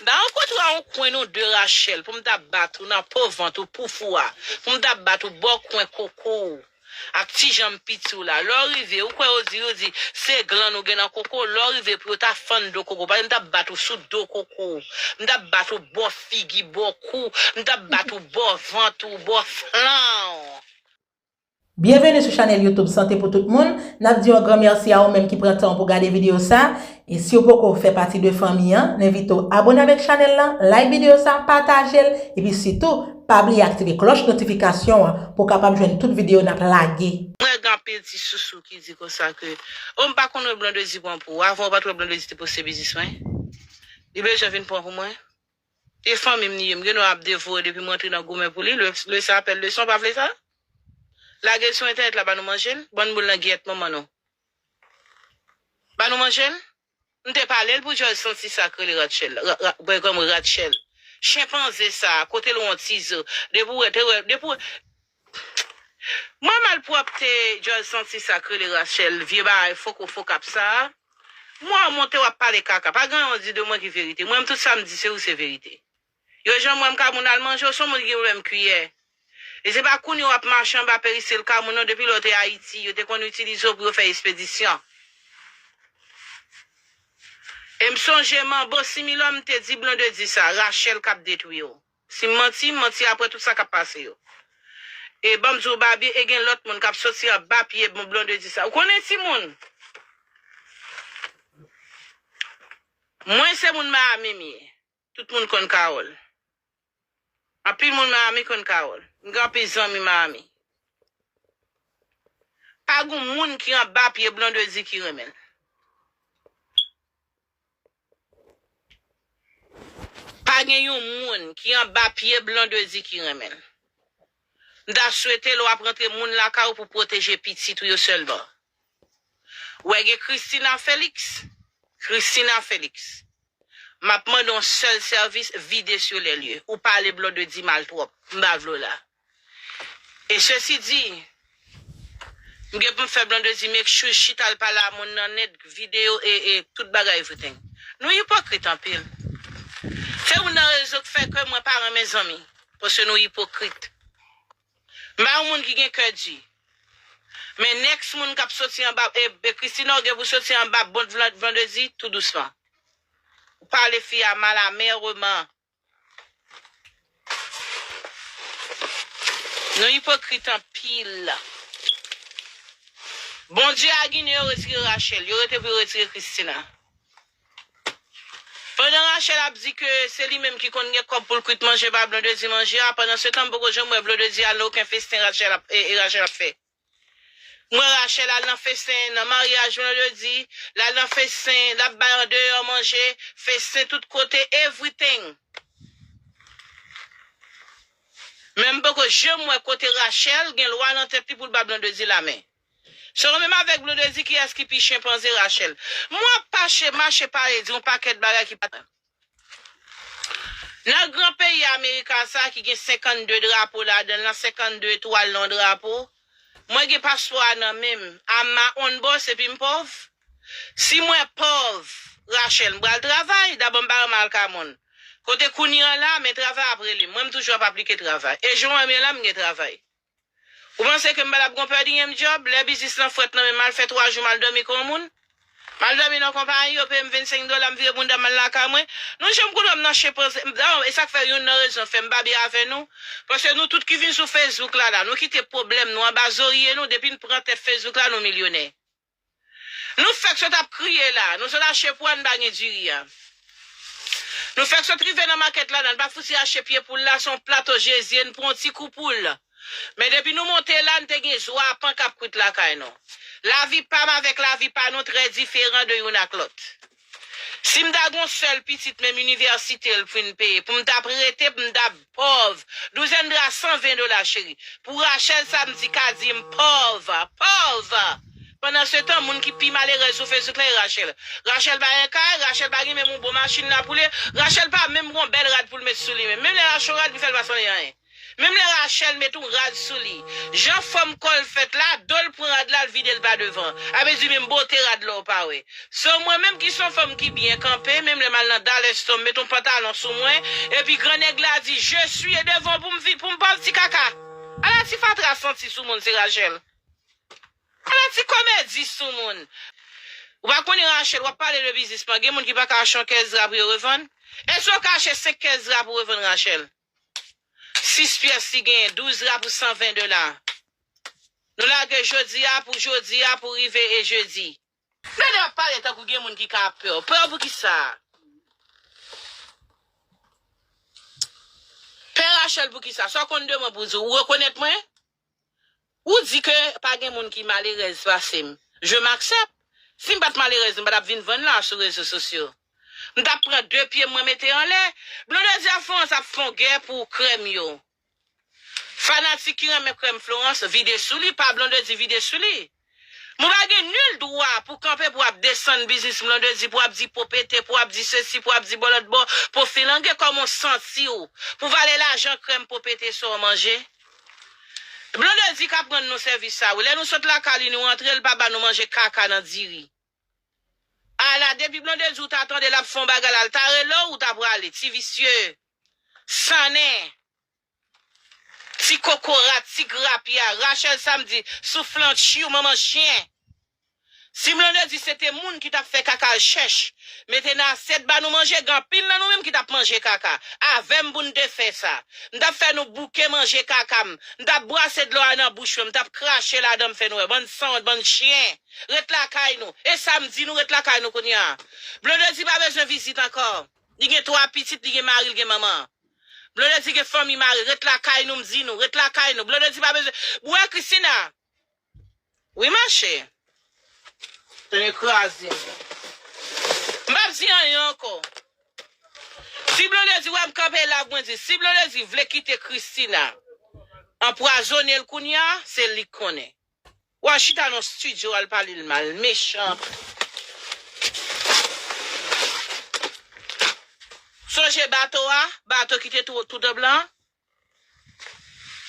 Da rankontre a on kwen non de Rachel pou m ta bat ou nan po vant ou pouf ou a, pou m ta bat ou bò kwen koko ou ak ti janm piti ou la. Lè w rive, ou kwè yo di, yo di, se glann ou gen nan koko w, lè w rive pou yo ta fann do koko w, pase m ta bat ou sou do koko w, m ta bat ou bò figi, bò kou, m ta bat ou bò vant ou, bò flank. Byenveni sou chanèl YouTube Sante pou tout moun, nap di yon gran mèsi a ou menm ki pran tan w pou gade videyo sa, e siw poko fè pati de fanmi an, n envite w abone avèk chanèl lan, like videyo sa, pataje l, epi sitou pa bliye aktive klòch notifikasyon an pou w kapab jwenn tout videyo nap lage. Mwen wè gen anpil ti sousou ki di konsa ke oh m pa konn wè Blondedy pran pou ou, avan ou pat wè Blondedy te poste biznis mwen? Li bel jan vin pran pou mwen? E fanmi m li ye. M gen dwa ap devore depi m rantre nan goumen pou li. Lè sa apèl leson, pa vle sa? Lage l sou entènèt la ba nou manje l. Ban boul nan gyèt manman nou. Ba nou manje l. M te pale l pou djòl santi sa k rele Ratchèl la. Bègòm Ratchèl. Chenpanze sa a, kote l wontize. Depi w wè, depi w wè. Mwen malpwòpte djòl santi sak rele Rachelle vye bagay foko fokap sa m wè w monte wap pale kaka pa gen anyen w di de mwen ki verite m wè m tout sa m di se ou se verite yo jan m wè m ka moun al manje w son moun ki gen pwoblèm kiyè e se pa kounye wap mache anba peristil ka moun non depi lè w te Ayiti yo te konn itilize w pou yo fè espedisyon e m sonje manbo similò m te di blondedy sa Rachelle kap detwi w. Sim manti, m manti aprè tout sa kap pase yo. E banm diw Babie e gen lòt moun kap soti anba pye bon Blondedy sa. Ou konnen timoun! Mwen se moun Miami m ye. Tout moun konn Carol. Anpil moun Miami konn Carol. M gen anpil zanmi Miami. Pa gon moun ki anba pye Blondedy ki renmenl. Pa gen yon moun ki anba pye Blondedy ki renmen l. M ta swete lè w ap rantre moun lakay ou pou pwoteje pitit ou yo sèlman. Wè gen Christina Felix? Christina Felix. M ap mande yon sèl sèvis vide sur les lieux. Ou pale Blondedy mal twòp. M pa vle w la. E sesi di, m gen pou m fè Blondedy make sure she tal pale a moun nan net, video e e tout bagay everything. Nou ipokrit anpil. Se youn nan rezo k fè ke mwen pa renmen zanmi. Paske nou ipokrit. M pa yon moun ki gen kè di. Men next moun kap soti anba e e Christina ou gen pou soti anba bot Blondedy tou dousman. Ou pale fi a mal amerement. Nou ipokrit anpil. Bondye a ginen yo retire Rachel yo rete pou yo retire Christina pandan Rachel ap di ke se li menm ki konn gen kòb poul kwit manje ba Blondedy manje a pandan se tan m poko janm wè Blondedy al nan oken festen Rachel ap fè. Mwen Rachel al nan fesen nan maryaj vendredi lal nan fesen lap bay andeyò manje fesen tout kote everything men m poko janm wè kote Rachel gen lwa nan tèt li poul ba blondedy la men selon menm avèk blondedy kiyès ki pi chenpanze Rachel m wè wap pache mache pale di yon pakèt bagay ki pa Nan gran peyi Amerika sa ki gen 52 drapo ladanl lan 52 etwal nan yon drapo mwen gen paspò a nan menm am ma own boss epim pòv si mwen pòv Rachel mpral travay dabò mpa renmen al kay moun kote kounye an la men travay ap relem mwen mtoujou ap aplike travay e jan ou wèm ye la mgen travay. Ou panse ke m pa t ap gon pè dinyem dyòb, lè biznis lan frèt nan men m m al fè 3 jou m al dòmi kon moun? M al dòmi nan konpayi, yo peye m 25 dola, m vire bounda m al lakay mwen. Nou janm konn wè m nan chenpanze. Dayè, e sa k fè youn nan rezon fè m pa byen avè nou, paske nou tout ki vin sou Facebook la la, nou kite pwoblèm nou anba zorye nou, depi n pran tèt Facebook la nou milyonè. Nou fèk sot ap kriye la, nou sot achte pou ann bagne diri a. Nou fèk sot rive nan makèt la, nan pa fouti achte pye poul la, son plat o jezi, n pran on ti kou poul. Men depi nou monte la, n te gen zwa a pan kap kwit lakay nou. Lavi pam avèk lavi pa nou trè diferan de youn ak lòt. Si m ta gen yon sèl pitit menm inivèsite l fin peye pou m t ap rete pou m t ap pòv douzèn dra 120 dola cheri pou Rachel sa m di ka di m pòv pòv pandansetan moun ki pi malerèz sou facebook la e Rachel Rachel pa gen kay Rachel pa gen menm yon bon machin l ap woule Rachel pa menm gen yon bèl rad pou l met sou li menm lè l a cho rad li fè l pa sanble anyen. Menm lè Rachel met yon rad sou li, jan fòm kò l fèt la, do l pran rad la, l vide l pa devan. A vle di menm bote rad la ou pa wè. So mwen menm ki son fanm ki byen kanpe, menm lè m al nan Dallas Store m met yon pantalon sou mwen, epi gran nèg la di je suis e devan w pou m vi, pou m pa ti kaka. Ala ti fatra santi sou moun se Rachel. Ala ti komedi sou moun. Ou pa konnen Rachel, w ap pale de biznis man, gen moun ki pa ka achte yon kè zra pou yo revann. Èske w ka achte 5 kè zra pou revann Rachel? 6 pyès li genyen 12 la pou 120 dola nou lage jodi a pou jodi a pou rive e jedi. Fede ap pale tankou gen moun ki ka ap pèw pèw pou kisa pè Rachel pou kisa sa w konn de mwen pou di w ou rekonèt mwen. Ou di ke pa gen moun ki malerèz pase m. Je m'accepte. Si m pa t malerèz m pa t ap vin vann la sou rezo sosyo. M t ap pran 2 pye m mwen mete anlè. Blonde di a Florence ap fon gè pou krèm yo. Fanatik ki renmen krèm Florence vide sou li pa Blondedy vide sou li. Mwen pa gen nul dwa pou kanpe pou ap desann biznis Mlondedy, pou ap di po pete, pou ap di sesi, pou ap di bò lòt bò, po filange, kòman w santi w pou valè lajan krèm po pete sa w manje? Blondedy k ap rann nou sèvis sa wi, lè nou sot lakay li nou rantre l pa ba nou manje kaka nan diri. Ala depi Blondedy w ta tande l ap fè yon bagay la l ta rele w ou ta prale, ti visye, sannen. Ti kokorat, ti grapya, Rachel Samedi, souflàn, tchiu, manman chyen. Si Mlande di se te moun ki tap fè kaka al chèch mete nan asyèt ba nou manje gen anpil nan nou menm ki tap manje kaka avèm pou n te fè sa m tap fè nou bouke manje kaka m m tap brase dlo a nan bouch mwen m tap krache ladan m fè nou wè bann sanwont bann chyen ret lakay nou e sa m di nou ret lakay nou kounya Blondedy pa bezwen vizit ankò li gen 3 pitit li gen mari l gen manman Blonde di gen fanmi mare ret lakay nou m di nou ret lakay nou blonde di pa bezwen bwe Christina wi ma che. Tande kraze m. M pap di anyen anko. Si blondedy wem kanpe la mwen di si blondedy vle kite Christina anpwazone l kounya se lik konnen. Wa chita nan studio al pale l mal mechan. Sonje bato a, bato ki te tou dan blan an?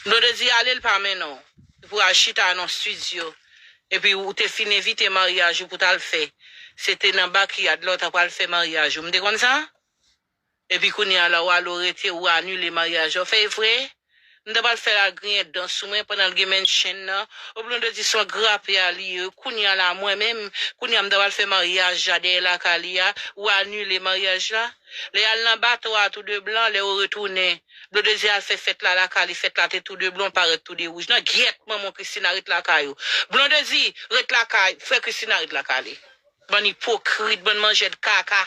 Lè w te di ale l pa mennen w. Epi w al chita nan studio. Epi w te fin evite maryaj ou pou w t al fè. Se te nan bakyad la w ta pral fè maryaj ou. M te konn sa? Epi kounye a la walou rete ou anile maryaj la fèy vre m ta pral fè la griyen dan sou mwen pandan l gen menn chenn nan epi nou te di son grape a li ye kounye a la mwen menm kounye a m ta pral fè maryaj la dèyè lakay li a ou anile maryaj la lè y al nan bato a tou de blan lè yo retounen blodedy al fè fèt la lakay li fèt la te tou de blan pa ret tou de wouj nan gyèt manman w christina ret lakay ou blondedy ret lakay frè christina ret lakay li bann ipokrit bann manjèd kaka.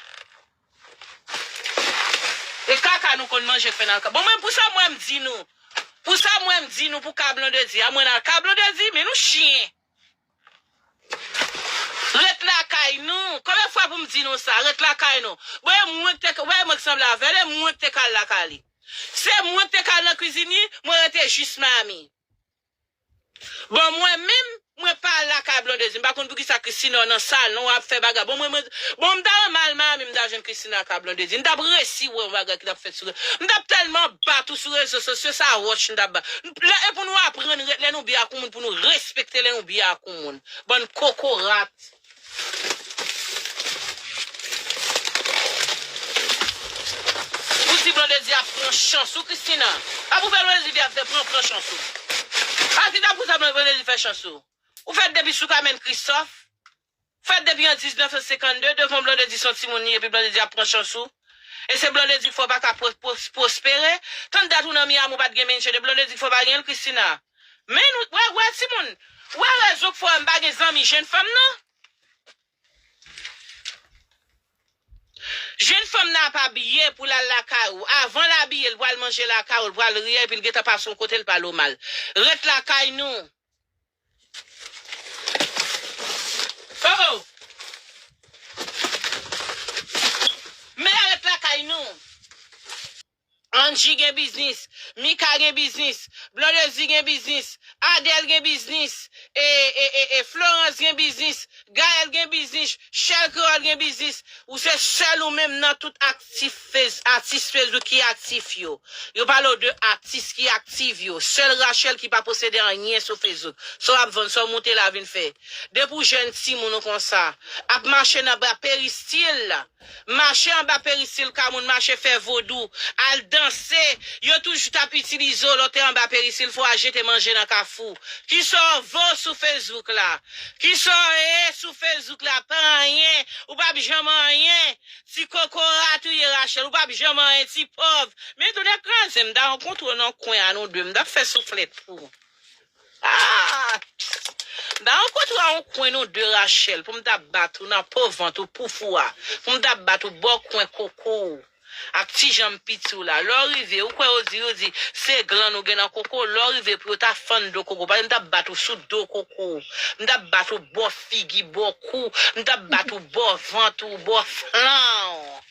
E kaka nou konn manje k fè n al ka. Bon mwen pou sa mwen m di nou pou sa mwen m di nou pou ka blondedy a mwen al ka blondedy men nou chyen ret lakay nou konbyen fwa pou m di nou sa ret lakay nou bon e mwen k te ou pa wè mwen k sanble avè l e mwen k te ka al lakay li se mwen k te ka al nan kwizin li mwen rete jis miami. Bon mwen menm mwen pa al lakay blondedy m pa konn poukisa Christina nan sal non ap fè bagay bon mwen mwen bon m ta renmen al Miami m ta jwenn Christina lakay blondedy m tap resi wè yon bagay ki tap fèt sou m tap tèlman bat ou sou rezo sosyo sa roch m tap bat lè e pou nou aprann ret lè nou byen ak yon moun pou nou respekte lè nou byen ak yon moun bann kokorat. Ou di Blondedy ap pran chans ou Christina Sa pou fè Blondedy di ap fè pran pran chans ou Sa ki ta pou sa Blondedy fè chans ou Ou fèt depi sou Kamèn Kristof Fèt depi an 1952 devan Blondedy son timoun li ye epi Blondedy ap pran chans ou E se Blondedy fè w pa ka pwospere Tann dat ou nan Miami w pat gen menche de Blondedy fè w pa gen l Christina Men nou wè wè timoun ou wè rezon k fè m pa gen zanmi jenn fanm nan jenn fanm nan ap abiye pou l al lakay ou avan l abiye l pral manje lakay ou l pral riye epi l gentan pase yon kote l pale w mal ret lakay nou oh oh men ret lakay nou. Angy gen biznis, Mika gen biznis, Blondedy gen biznis, Adèle gen biznis, e e e e Florence gen biznis, Gaëlle gen biznis, Shell Creole gen biznis, ou se sèl ou menm nan tout aktif fez atis Facebook ki aktif yo. Yo pale w de atis ki aktiv yo. Sèl Rachelle ki pa posede anyen sou Facebook. Sa w ap vann, sa w moute la vin fè. Depi w jèn timoun ou konsa. Ap mache nan bra peristil. Mache anba perisil ka moun mache fè vodou, al danse, yo toujou tap itilize w lè w te anba perisil fò al jete manje nan kafou. Kisa w vo sou Facebook la? Kisa w ye sou Facebook la? Pa anyen, ou pap janm anyen. Ti kokorat ou ye Rachel, ou pap janm anyen ti pòv. Men tonè kraze m ta rankontre w nan kwen a nou 2, m tap fè souflèt pou w. Aah! Da rankontre a on kwen nou de Rachel pou m ta bat ou nan po vant ou pouf ou a, pou m ta bat ou bò kwen koko w ak ti janm piti w la. Lè w rive, ou kwè yo di, yo di, se glann ou gen nan koko w, lè w rive pou yo ta fann do koko w, pase m ta bat ou sou do koko w, m ta bat ou bò figi, bò kou, m ta bat ou bò vant ou, bò flank.